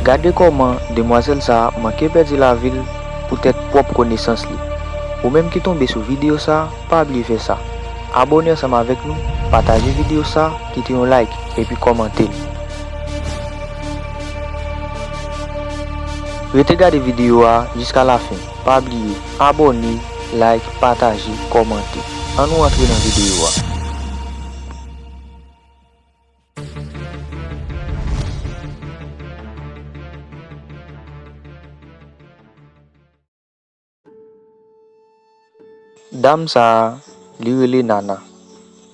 Gade kòman demwazèl sa manke pèdi lavi l poutèt pwòp konesans li. Ou menm ki tonbe sou videyo sa pa bliye fè sa, abòne ansanm avèk nou, pataje videyo sa, kite yon like epi kòmante l. Rete gade videyo a jiska lafen, pa bliye abòne, like, pataje, kòmante. An nou antre nan videyo a. Dam sa a, li rele Nana.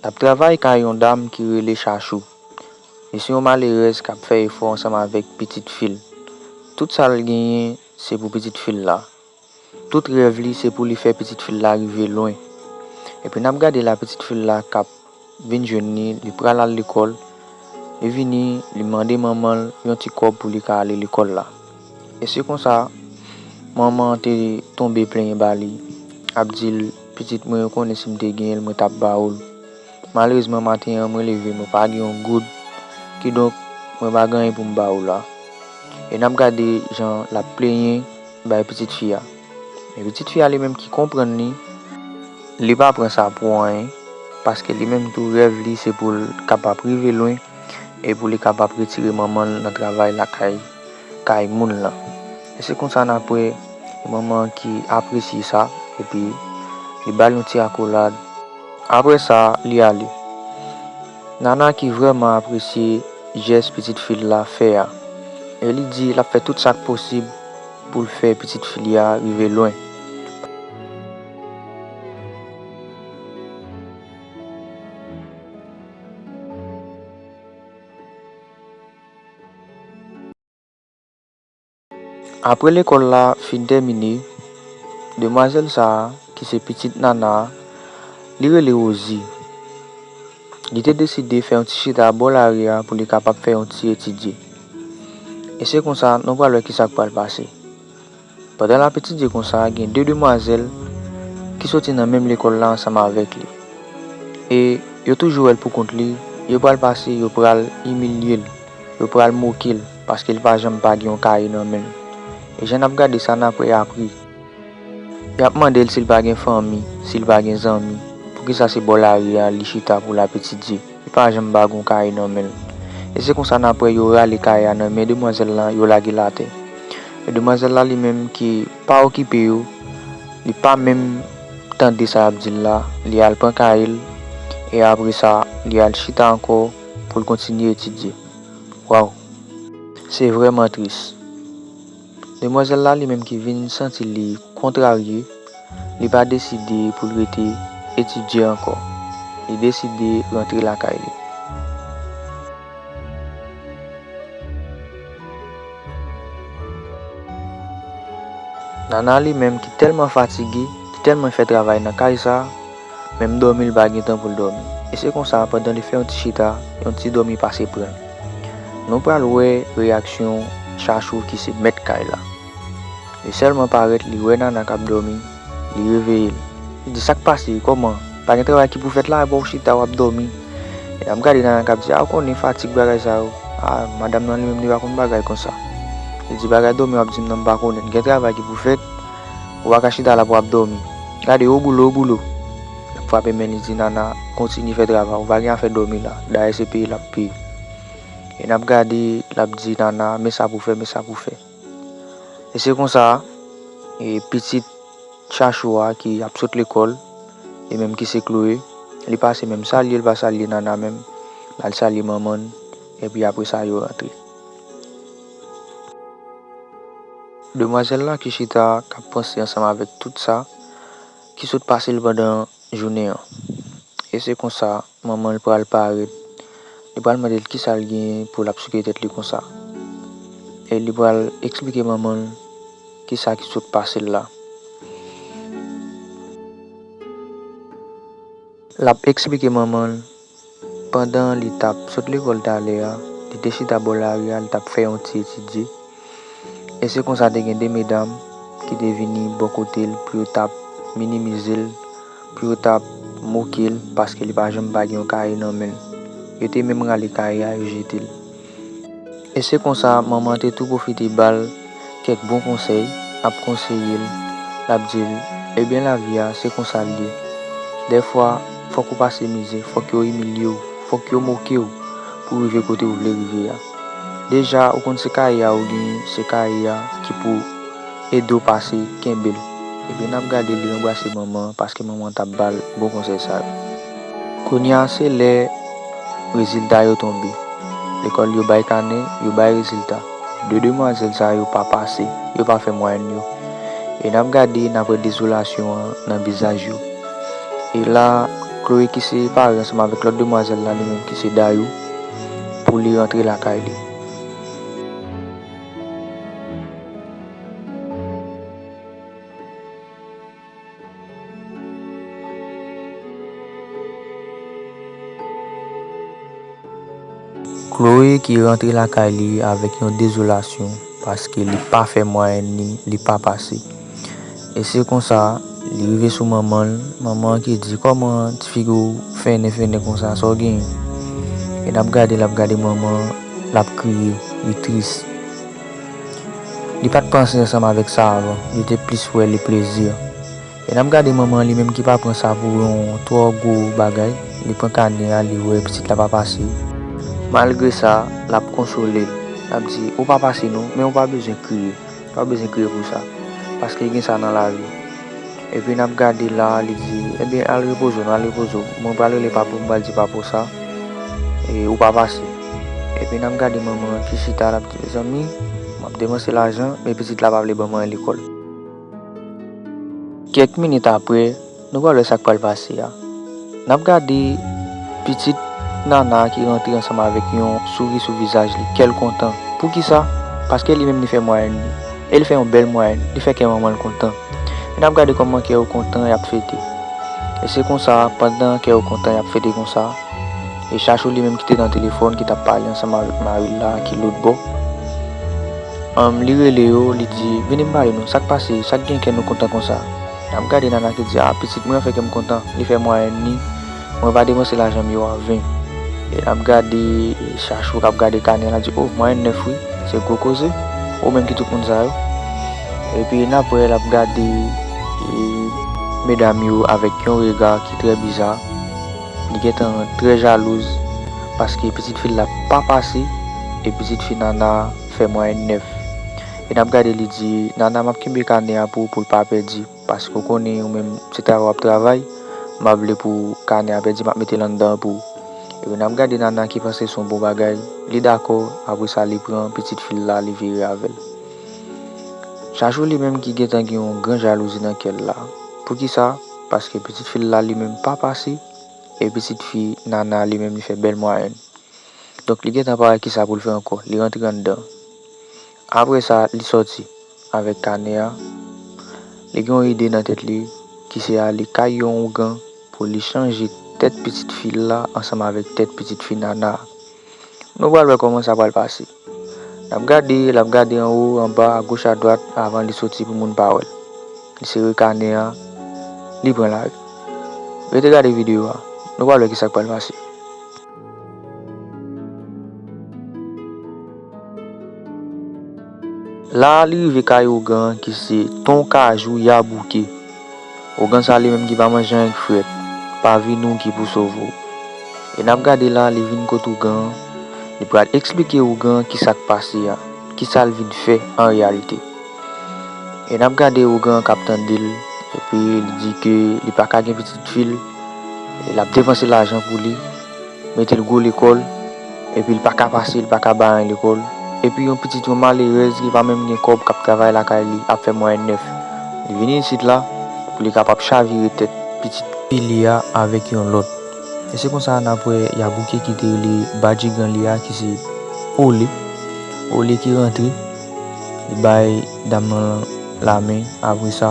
L ap travay kay yon dam ki rele Chachou. Li se yon malerèz k ap fè efò ansanm avèk pitit fi l. Tout sa l genyen se pou pitit fi l la. Tout rèv li se pou li fè pitit fi l la rive lwen. Epi n ap gade la pitit fi l la k ap vin jwenn li, li pral al lekòl, li vini li mande manman l yon ti kòb pou li ka ale lekòl la. E se konsa manman an te tonbe plenyen ba li, ap di l, pitit mwen yo konnen si m te genyen l mwen t ap ba ou l. Malerezman maten an mwen leve mwen pa gen yon goud, kidonk mwen pa gen anyen pou m ba ou la. E n ap gade jan l ap plenyen bay pitit fi a. Men pitit fi a li menm ki konprann li, li pa pran sa pou anyen paske li menm tou rèv li se pou l kapab rive lwen e pou li kapab retire manman l nan travay lakay. kay moun lan. E se konsa nan apre manman an ki apresye sa epi li ba l yon ti akolad. Apre sa li ale. Nana ki vrèman apresye jès pitit fi l la fè a e li di l ap fè tout sa k posib pou l fè pitit fi li a rive lwen. Apre lekòl la fin tèmine, demwazèl sa a, ki se pitit Nana, li rele Wozi, li te deside fè yon ti chita bò lari a pou li kapab fè yon ti etidye. E se konsa, nou pral wè ki sa k pral pase. Pandan l ap etidye konsa, gen de demwazèl ki soti nan menm lekòl la ansanm avèk li. E yo toujou wè l pou kont li, yo pral pase yo pral imilye l, yo pral moke l paske l pa janm pa gen yon kaye nan men l. E jan n ap gade sa n ap apri. Y ap mande l si l pa gen fanmi, si l pa gen zanmi, poukisa se bò lari a li chita pou l ap etidye. Li pa janm bague yon kaye nan men l. E se konsa nan aprè yo rale kaye a nan men demwazèl lan yo lage l atè. Men demwazèl la li menm ki pa okipe yo, li pa menm tande sa y ap di l la, li al pran kaye l e apre sa li al chita ankò pou l kontinye etidye. Waww! Se vrèman tris. Demwazèl la li menm ki vin santi li kontrarye, li pa deside pou l rete etidye ankò. Li deside rantre lakay li. Nana li menm ki tèlman fatige, ki tèlman fè travay nan kay sa. Menm dòmi l pa gen tan pou l dòmi. E se konsa pandan li fè yon ti chita, yon ti dòmi pase pran l. Nou pral wè reyaksyon Chachou ki se mèt kay la. Li sèlman parèt li wè Nana k ap dòmi, li reveye l. Li di, Sa k pase? Kòman? Pa gen travay ki pou fèt la? Epa w chita w ap dòmi? E l ap gade Nana k ap di, A ou konnen fatig bagay sa yo. A madanm nan li menm li pa konn bagay konsa. Li di, Bagay dòmi w ap di m nan m pa konnen l. Gen travay ki pou fèt. Ou pa ka chita la pou ap dòmi. Gade o bouloo bouloo. L ap frape men li di Nana kontinye fè travay ou pa gen afè dòmi la dayè se peye l ap peye. E n ap gade l ap di Nana men sa pou fè men sa pou fè. E se konsa e pitit Chachou a ki ap sot lekòl li menm ki se Chloé li pase menm salye l pa salye Nana menm l al salye manman l epi apre sa yo rantre. Demwazèl la ki chita a k ap panse ansanm avèk tout sa ki sot pase l pandan jounen an. E se konsa, manman l pral pa rèt. Li pral mande l kisa l genyen pou l ap souke tèt li konsa. E li pral esplike manman l kisa ki sot pase l la. L ap esplike manman l Pandan li t ap sot lekòl talè a, li te chita bò lari a, li t ap fè yon ti etidye. E se konsa te gen de medam ki te vini bò kote l pou yo t ap minimize l, pou yo t ap moke l paske li pa janm pa gen yon kaye nan men l. Yo te menm rale kaye a, yo jete l. E se konsa manman an te tou pwofite ba l kèk bon konsèy, ap konseye l, l ap di l, Ebyen lavi a se konsa l ye. Dèfwa fòk ou pase mizè, fòk yo imilye w, fòk yo moke w pou w rive kote ou vle rive a. Deja ou konn se kaye a ou genyen, se kaye a ki pou ede w pase, kenbe l. Epi n ap gade li ranbrase manman an paske manman an t ap ba l bon konsèy sa yo. Kounya se lè rezilta yo tonbe. Lekòl yo bay kanè, yo bay rezilta. De demwazèl sa yo pa pase, yo pa fè mwayèn yo. E n ap gade, n ap wè dezolasyon an nan vizaj yo. E la, Chloé ki se pare ansanm avèk lòt demwazèl la li menm ki se Dayou, pou li rantre lakay li. Chloé ki rantre lakay li avèk yon dezolasyon paske li pa fè mwayèn li, li pa pase. E se konsa, li rive sou manman l, manman an ki di, Kòman ti figi w fennen fennen konsa, sa w genyen? E l ap gade l ap gade manman an, l ap kriye, li tris. Li pat panse ansanm avèk sa avan, li te plis wè li plezi. E nan gade manman li menm ki pa pran sa pou yon twò gwo bagay, li pran kane a li wè pitit la pa pase. Malgre sa, lap konsole l, lap di, ou pa pase non, men ou pa bezwen kriye, ou pa bezwen kriye pou sa, paske gen sa nan lavi. Epi nap gade la li di ebyen al repoze w al repoze w mwen pral rele papi w m pral di papi w sa e ou pa pase epi nap gade manman an ki chita lap di mezanmi map depanse lajan men pitit la pa vle banm anyen lekòl. Kèk minit aprè nou pral wè sak pral pase a. Nap gade pitit Nana ki rantre ansanm avèk yon souri sou vizaj li, kèl kontan. Poukisa? Paske li menm li fè mwayèn li. E li fè yon bèl mwayèn, li fè kè manmanl kontan. E nap gade kòman kè yo kontan yap fete. E se konsa pandan kè yo kontan yap fete konsa, e Chachou li menm ki te nan telefòn ki tap pale ansanm avèk maril la ki lotbò, humm li rele yo li di vini m pale nou sak pase, sak gen kè nou kontan konsa? Nap gade nana ki di ah pitit mwen an fè kèm kontan li fè mwayèn li mwen pa depanse lajanm yo an ven e nap gade chachou kap gade kanè lap di oh mwayèn 9 wi se gwo koze oh men ki tout moun sa yo epi nap wè lap gade medam yo avèk yon rega ki trè biza li gentan trè jalouz paske pitit fil la pa pase e pitit fi nana fè mwayèn 9 e nap gade li di Nana map kenbe kanè a pou ou poul pa pèdi paske ou konnen ou menm se travay wap travay m pa vle pou kanè a pèdi map metel anndan an pou ou epi nap gade Nana ki panse son bon bagay li dakò apresa li pran pitit fil la li vire avèl Chachou li menm ki gentan gen yon gran jalouzi nan kèl la poukisa paske pitit fil la li menm pa pase e pitit fi Nana li menm li fè bèl mwayèn donk li gentan pa wè kisa poul fè ankò li rantre anndan. Apre sa, li sòti avèk kanè a. Li gen yon ide nan tèt li ki se ale kay yon ougan pou li chanje tèt pitit fi l la ansanm avèk tèt pitit fi Nana a. Nou pral wè kòman sa pral pase. L ap gade, l ap gade anwo, anba, agoch adwat avan li soti pou moun pa wè l. Li sere kanè a, li pran lari. Rete gade videyo a, nou pral wè ki sa k pral pase. La a li rive kay ougan an ki se ton kajou ya bouke. Ougan sa li menm ki pa manje anyen k frèt, pa vini w ki pou sove w. E n ap gade la li vin kot ougan an, li pral eksplike ougan an kisa k pase a, kisa l vin fè an reyalite. E nap gade ougan kap tandel epi li di ke li paka gen pitit fil e lap depanse lajan pou li metel gwo lekòl epi li paka pase li paka bay anyen lekòl epi yon pitit yon malerèz ki pa menm gen kòb kap travay lakay li ap fè mwayèn 9 li vini isit la pou li kapab chavire tèt pitit fi li a avèk yon lòt e se konsa nap wè ya bouke kite rele badjigan li a ki se Ole Ole ki rantre. Li bay dam nan lamen apresa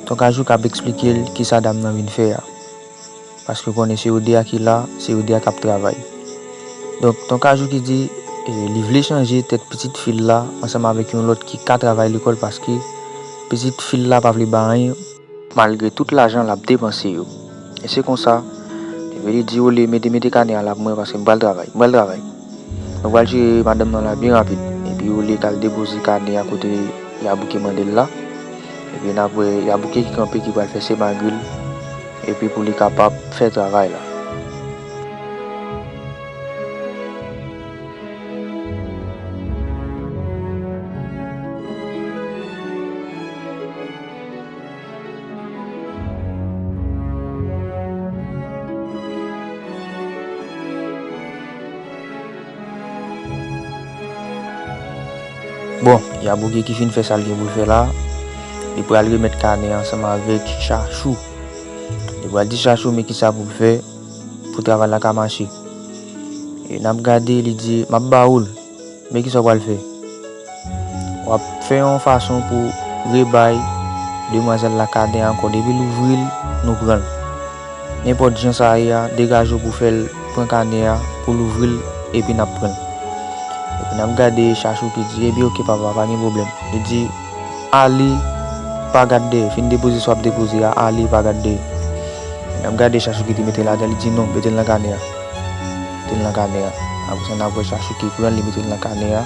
ton kajou kap esplikel kisa dam nan vin fè a paske konnen se yo 2 a ki la se yo 2 a kap travay donk ton kajou ki di li vle chanje tèt pitit fil la ansanm avèk yon lòt ki ka travay lekòl paske pitit fil la pa vle bay anyen. Malgre tout lajan lap depanse yo. E se konsa Veli di Ole mete mete kanè a la pou mwen paske m pral travay. M pral travay. Mwen pral jere madanm nan la byen rapid. Epi Ole t al depoze kanè a kote Yabouke mande l la. Ebyen nap wè Yabouke ki kanpe ki pral fè semagri l epi pou li kapab fè travay la. Bon, Yabouge ki fin fè sa l gen pou l fè la, li pral remèt kanè ansanm avèk Chachou. Li pral di Chachou men ki sa pou l fè pou travay la ka mache. E n ap gade li di, M ap ba ou l. Men kisa w pral fè. W ap fè yon fason pou w rebay demwazèl la kaden ankò. Depi l ouvri l, nou pran l. Nenpòt jan sa ye a, degaje w pou w fè l pran kaden an, pou l ouvri l, epi n ap pran l. Epi n ap gade Chachou ki di, Epi oke papa, pa gen pwoblèm. Li di, Ali, pa gad dèyè. Fin depoze sa w ap depoze a, Ali, pa gad dèyè. N ap gade Chachou ki te mete l atè, li di, Non, mete l nan kaden an. Te nan kanè a. Apre sa, n ap wè Chachou te pran l, li mete l nan kanè a.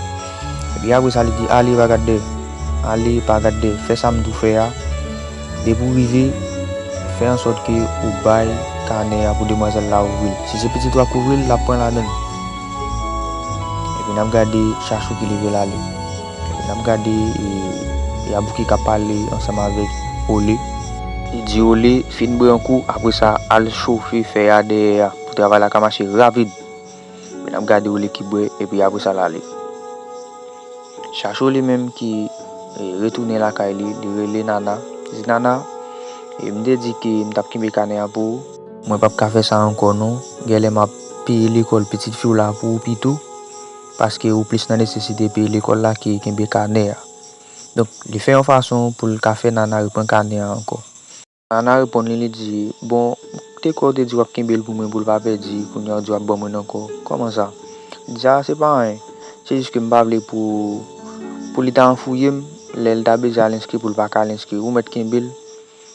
Epi apre sa, li di, Ale, pa gad dèyè. Ale, pa gad dèyè. Fè sa m di w fè a. Depi w rive, fè ansòt ke ou bay kanè a pou demwazèl la ouvri l. Si se pitit ou a k ouvri l, l ap pran l avè l. Epi n ap gade Chachou ki leve l ale. Epi n ap gade Yabouki k ap pale ansanm avèk Ole. Li di Ole, Fin bwè yon kou, apre sa, al chofe fè a dèyè a. Pou travay la ka mache ravid men ap gade oule ki bwe epi apresa lale. Chachou li menm ki retounen lakay li, li rele Nana, li di Nana, e m te di ke m t ap kenbe kanè an pou ou. Mwen p ap ka fè sa ankò non, gèlè m ap peye lekòl pitit fi w la pou ou pito, paske ou plis nan nesesite peye lekòl la ke kenbe kanè a. Donk li fè yon fason pou l ka fè Nana repran kanè a ankò. Ana reponn li, li di, Bon, te kwè w te di w ap kenbe l pou mwen pou l pa pèdi, kounye a w di w ap ban mwen l ankò. Kòman sa? Li di, A, se pa anyen, se jis ke m pa vle pou, pou li ta anfouye m, lè l ta beze al enskri pou l pa ka al enskri. Ou mèt kenbe l,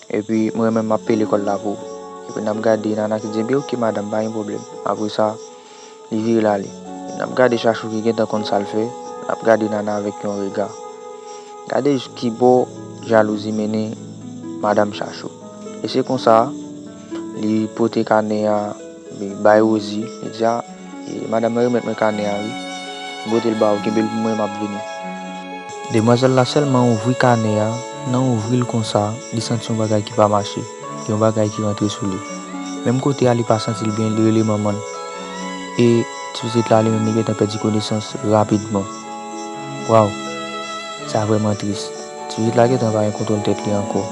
epi mwen menm m ap peye lekòl la pou ou. Epi n ap gade Ana ki di, Enben, oke, madanm, pa gen pwoblèm. Apre sa. Li vire l ale. N ap gade Chachou ki gentan konn sa l fè, l ap gade Nana avèk yon rega. Gade jis ki bò jalouzi mennen Madam Chachou. E se konsa, li pote kanè a bay Rozi, li di a, Madam nan remèt mwen kanè a wi. M pote l ba ou, kenbe l pou mwen, m ap vini. Demwazèl la sèlman ouvri kanè a, nan ouvri l konsa, li santi yon bagay ki pa mache. gen yon bagay ki rantre sou li. Menm kote a li pa santi l byen, li rele manman l. E ti pitit la li menm li gentan pèdi konesans rapidman. Waw! Sa vrèman tris. Ti pitit la gentan pa gen kontwòl tèt li ankò.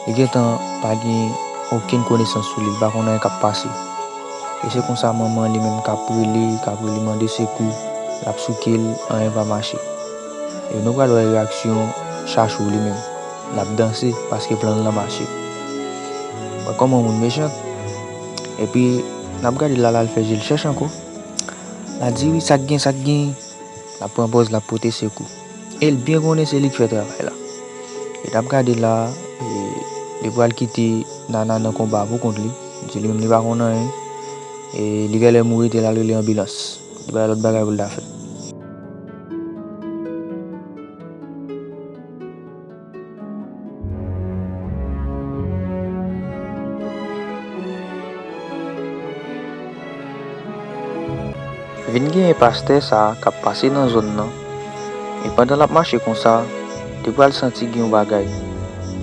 Li gentan pa gen okenn konesans sou li, li pa konn anyen k ap pase. E se konsa manman li menm k ap rele, k ap rele mande sekou, l ap souke l, anyen pa mache. E nou pral wè reyaksyon Chachou li menm. Lap danse paske planl lan mache. Wè kòman moun mechant. Epi nap gade lala al fè jel chèch ankò. La di wi sak gen sak gen. Lap pran pòz lap pote sekou. El byen konnen se li ki fè travay la. E nap gade la li pral kite Nana nan konba pou kont li. Li di li menm li pa konn anyen. E li gèlè mouri tel al rele anbilans. Li pa gen lòt bagay poul ta fè. Vin genyen pastè sa kap pase nan zòn nan e pandan lap mache konsa li pral santi gen yon bagay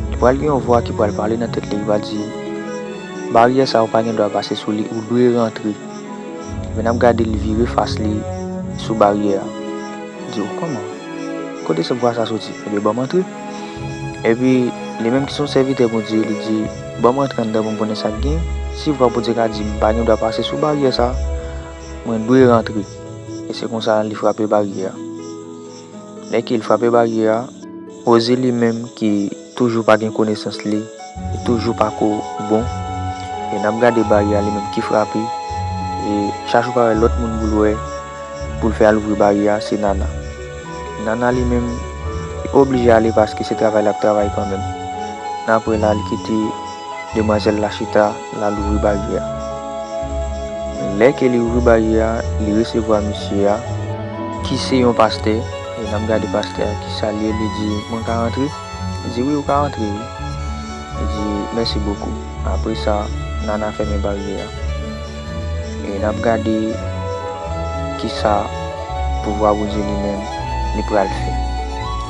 li pral gen yon vwa ki pral pale nan tèt li ki pral di baryè sa ou pa gen dwa pase sou li ou dwe rantre men nap gadel vire fas li sou baryè a di ou kòman Kote se vwa sa soti? Ebyen banm antre. Epi, li menm ki se yon sèvitè Bondye, li di, Banm rantre anndan pou m konnen sa k gen. Si vwa Bondye ka di m pa gen dwa pase sou baryè sa a, mwen dwe rantre. E se konsa li frape baryè a. Lè ke l frape baryè a, Rosie li menm ki. Toujou pa gen konesans li toujou pa ko bon e nap gade baryè a li menm ki frape e chachou pa wè lòt moun poul wè poul fè al ouvri baryè a se nana nana li menm li pa oblije ale paske se travay lap travay kanmenm nan aprè la li kite demwazèl la chita lal ouvri baryè a lè ke li ouvri baryè a li resevwa mesye a ki se yon pastè. E nap gade pastè a ki salye li di mwen ka rantre? Li di wi ou ka rantre wi. Li di mèsi bokou. Apre sa Nana fèmen baryè a. E nap gade kisa pouvwa Bondye li menm li pral fè.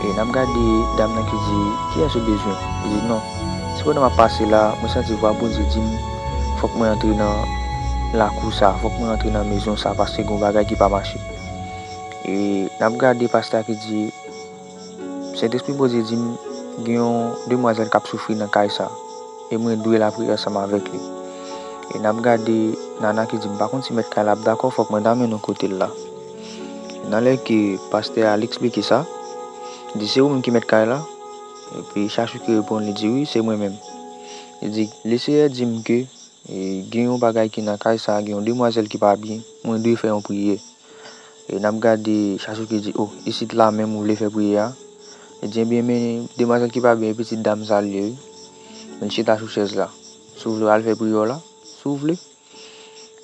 E nap gade dam nan ki di kiyès ou bezwen? Li di non se pandan map pase la mwen santi vwa Bondye dim fòk mwen antre nan lakou sa, fòk mwen antre nan mezon sa paske gon bagay ki pa mache. E nap gade pastè a ki di Sentespri Bondye dim gen yon demwazèl kap soufri nan kay sa e mwen dwe lapriyè ansanm avèk li. E nap gade Nana ki di m pa konn si mèt kay la ap dakò fòk mwen ta mennen w kote l la. Nan lè ke pastè al eksplike sa, li di se ou menm ki mèt kay la? Epi Chachou ki reponn li di wi se mwen menm. Li di Leseyè dim ke gen yon bagay ki nan kay sa gen yon demwazèl ki pa byen mwen dwe fè yon priyè. E n ap gade Chasou ki di, O, isit la menm ou vle fè priyè a? Li di, Ebyen, men demwazèl ki pa byen, e pitit dam sa l ye wi. Men l chita sou chèz la. Si w vle, w al fè priyè w la, si w vle.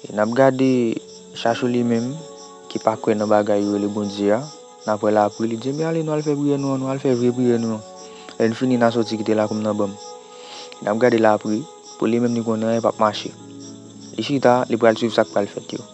E n ap gade Chasou li menm, ki pa kwè nan bagay yo rele Bondye a, n ap wè l apre, li di, Ebyen, ale nou al fè priyè nou an, nou al fè vre priyè nou an. Lè n fini, n a soti kite lakou m nan ban m. E n ap gade l apre, pou li menm li konnen anyen pap mache. Li chita, li pral suiv sa k pral fèt yo.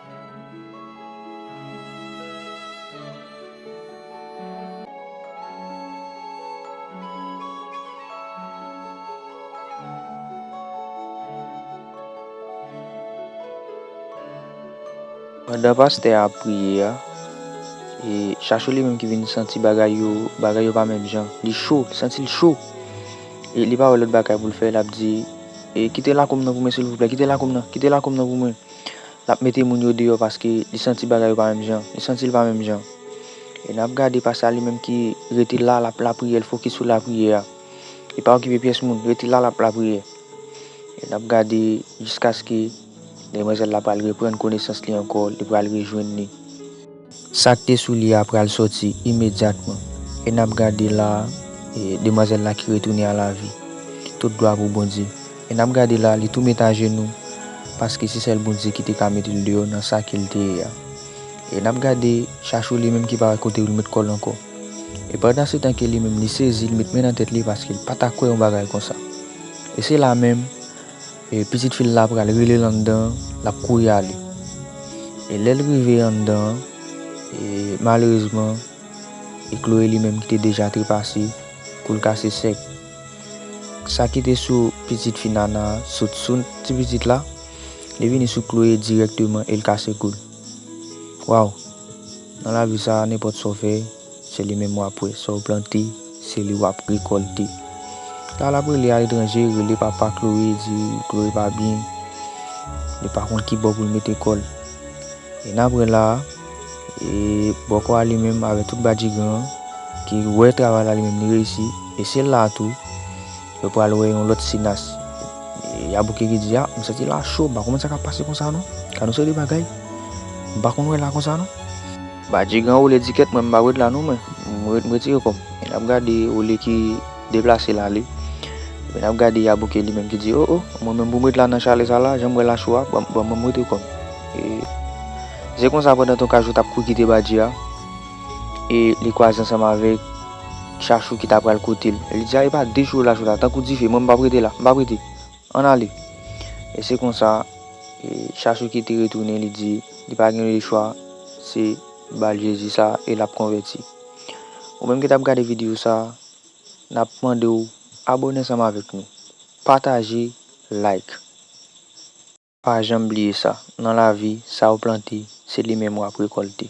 Pandan pastè a ap priye a, e Chachou li menm ki vin santi bagay yo, bagay yo pa menm jan. Li cho, li santi l cho. E li pa wè lòt bagay pou l fè, l ap di, E kite lakou m nan pou mwen silvouplè, kite lakou m nan, kite lakou m nan pou mwen. L ap mete moun yo deyò paske li santi bagay yo pa menm jan. Li santi l pa menm jan. E n ap gade pastè a li menm ki rete la, l ap lapriyè, l fokis sou lapriyè a. Li pa okipe pyès moun, li rete la, l ap lapriyè. E n ap gade jiskaske demwazèl la pral reprann konesans li ankò, li pral rejwenn li. Sa k te sou li a pral sòti imedyatman, e n ap gade la a demwazèl la ki retounen a lavi. Tout glwa pou Bondye! E n ap gade la a li tou met ajenou, paske se sèl Bondye ki te ka mete l deyò nan sa ke l te ye a. E n ap gade chachou li menm ki pa wè kote pou l met kò l ankò. E pandansetan ke li menm li sezi, li met men nan tèt li paske l pa ta kwè yon bagay konsa. E se la menm. E pitit fi l la pral rele l anndan an, l ap kouri ale. E lè l rive anndan an, e malerezman, e Chloé li menm ki te deja trepase, kou l kase sèk. Sa ki te sou pitit fi Nana a sot sou ti pitit la, li vini sou Chloé dirèkteman e l kase kou l. Waw! Nan lavi sa a, nenpòt sa w fè, Se li menm wap wè sa w plante se li wap rekòlte la lap rele aletranje rele papa Chloé di Chloé pa byen li pa konn kibò pou l mete kò l e nap wè la e bòkò a li menm avèk tout badjigan an ki wè travay la li menm li reyisi e se la tou yo pral wè yon lòt sinas Yabouke ki di a m santi la cho m pa konprann sa kap pase konsa non gad yon seri de bagay m pa konn wè la konsa non. Badji gran woule dikèt mwen m pa ret la non mwen m ret m retire kòm e nap gade woule ki deplase l ale epi nap gade yabouke li menm ki di oh oh mwen menm pou m ret la nan chale sa la jan m wè la cho a ban ban m rete kòm e se konsa pandan ton kajou tap kouri kite badji a e li kwaze ansanm avèk chachou ki ta pral kote l li di a epa de cho la cho la tankou dife mwen m pap rete la m pap rete. Ann ale! E se konsa, Chachouki te retounen, li di, li pa gen lechwa, se ba l Jezi sa e l ap konvèti. Ou menm ki t ap gade videyo sa, n ap mande w abone ansanm avèk nou, pataje, like. Pa janm bliye sa, nan lavi, sa ou plante, se li menm w ap rekòlte.